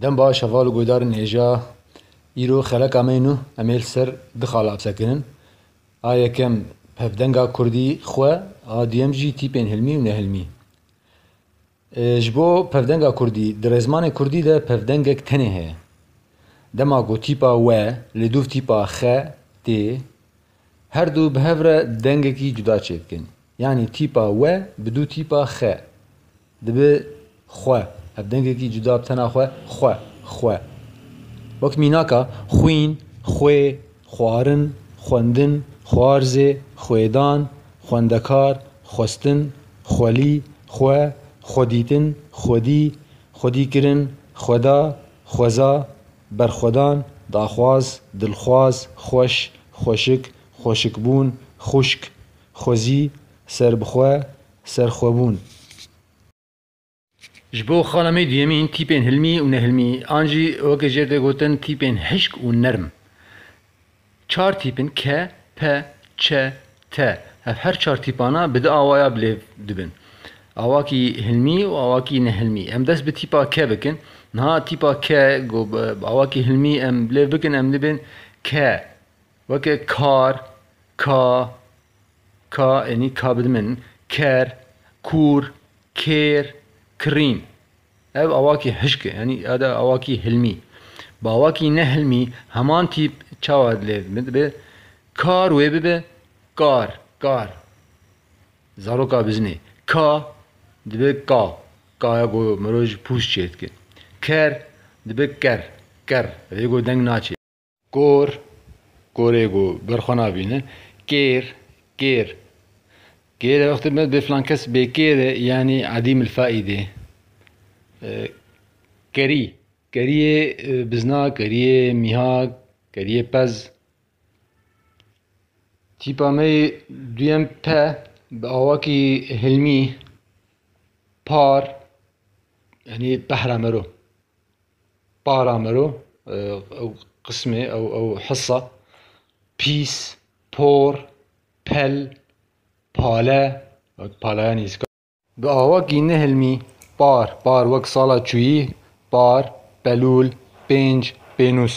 Dem baş heval û guhdarên hêja îro xeleka me nû em ê li ser du xala qise kirin. A yekem pevdenga kurdî xwe a duyem jî tîpên hilmî û nehilmî. Ji bo pevdenga kurdî di rêzmanê kurdî de pevdengek tenê heye. Dema ku tîpa we li dûv tîpa xe tê her du bi hev re dengekî cuda çêdikin. Yanî tîpa we bi dû tîpa xe. Dibe xwe, ev dengekî cuda bi tena xwe, xwe, xwe. Wek mînaka, xwîn, xwê, xwarin, xwendin, xwarzê, xwêdan, xwendekar, xwestin, xwelî, xwe, xwedîtin, xwedî, xwedîkirin, xweda, xweza, berxwedan, daxwaz, dilxwaz, xweş, xweşik, xweşikbûn, xwişk, xwezî, serbixwe, Serxwebûn. Ji bo xanimê duyemîn tîpên hilmî û nehilmî an jî weke jê tê gotin tîpên hişk û nerm. Çar tîp in ke, pe, çe, te. Ev her çar tîpana bi du awaya bi lêv dibin. Awakî hilmî û awakî nehilmî. Em dest bi tîpa ke bikin. Niha tîpa ke ku bi awakî hilmî em bi lêv bikin em dibin ke weke kar, ka, Ka enî ka bi min ker, kûr, kêr, kirîn. Ev awakî hişk e yanî ada awakî hilmî. Bi awakî ne hilmî heman tîp çawa lê min dibe kar wê bibe kar, kar. Zaroka bizinê ka dibe ka, ka ya ku mirov ji pûs çêdike. Ker dibe ker, ker. Ev ê ku deng naçê. Kor, korê ku ber xwe nabîne. Kêr, kêr, kêr e wextê me bê filan kes bêkêr e yanî edîm il faîdê. Kerî, kerîyê bizna, kerîyê mîhak, kerîyê pez. Tîpa me yê duyem pe bi awakî hilmî, par, yanî pehra me ro. Para mero ew qismê ew ew hisa pîs, por, pel, pale, palaya nîzika. Bi awakî nehilmî par, par wek sala çûyî, par, pelûl, pênc, pênûs.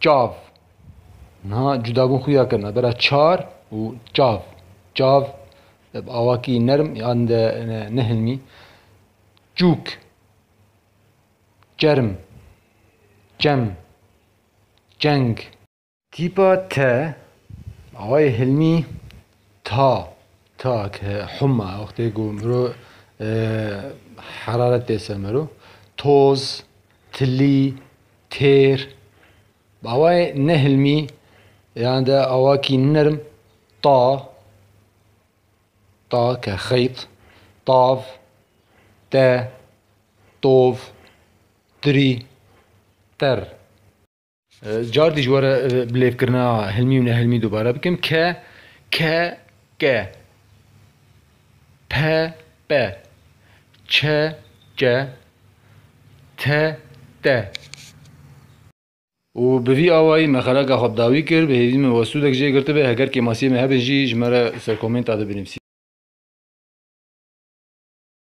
Çav Niha cudabûn xuya kir navbera çar û çav. Çav bi awakî nerm yan de nehilmî. Çûk Çerm Çem Çeng Tîpa te bi awayê hilmî ta ta ke huma wextê ku miro heraret tê ser miro. Toz Tilî Têr, bi awayê nehilmî yan de awakî nirm, ta, ta ke xeyt, tav, te, tov, tirî, ter. Car dî ji we re bilêvkirina hilmî û nehilmî dubare bikim, ke, ke, ke. PB, CC, TD. Û bi vî awayî me xeraka xwe bi dawî kir, bi hêvî min we sûdek jê girtibe, heger kêmasiyê me hebin jî ji me re ser komênta de binivîsî.